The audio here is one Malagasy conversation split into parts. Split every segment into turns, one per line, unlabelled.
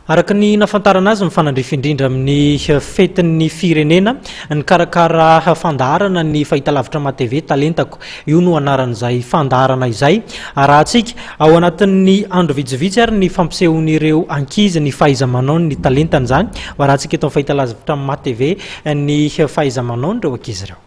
Araka ny nafantarana azy, mifanandrify indrindra amin'ny fetin'ny firenena nikarakara fandaharana ny fahitalavitra MaTv Talentako. Io no anaran'izay fandaharana izay. Arahantsika ao anatin'ny andro vitsivitsy ary ny fampisehoan'ireo ankizy ny fahaiza-manaony ny talentany. Izany ho arahantsika eto amin'ny fahitalavitra MaTv ny fahaiza-manaon'ireo ankizy ireo.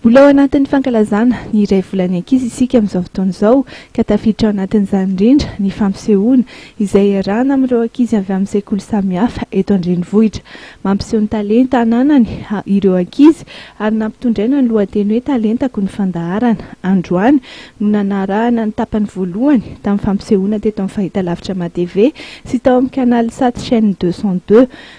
Mbola ao anatin'ny
fankalazana ny iray volan'ny ankizy isika amin'izao fotoana izao, ka tafiditra ao anatin'izany indrindra ny fampisehoana izay iarahana amin'ireo ankizy avy amin'ny sekoly samihafa eto an-drenivohitra. Mampiseho ny talenta ananany ireo ankizy ary nampitondraina ny lohateny hoe Talentako ny fandaharana. Androany no nanarahana ny tapany voalohany tamin'ny fampisehoana teto amin'ny fahitalavitra Matv sy tao amin'ny Canalsat Chaîne deux cent deux.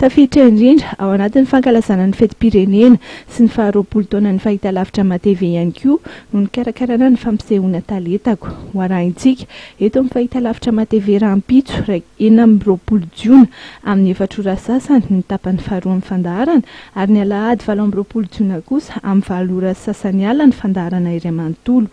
Tafiditra indrindra ao anatin'ny fankalazana ny fetim-pirenena sy ny faha roapolo taonan'ny fahitalavitra Matv ihany koa no nikarakarana ny fampisehoana Talentako ho arahintsika eto amin'ny fahitalavitra Matv rahampitso iraika enina amby roapolo jiona amin'ny efatra ora sasany ny tapany faharoa amin'ny fandaharana ary ny alahady valo amby roapolo jiona kosa amin'ny valo ora sasany alina ny fandaharana iray manontolo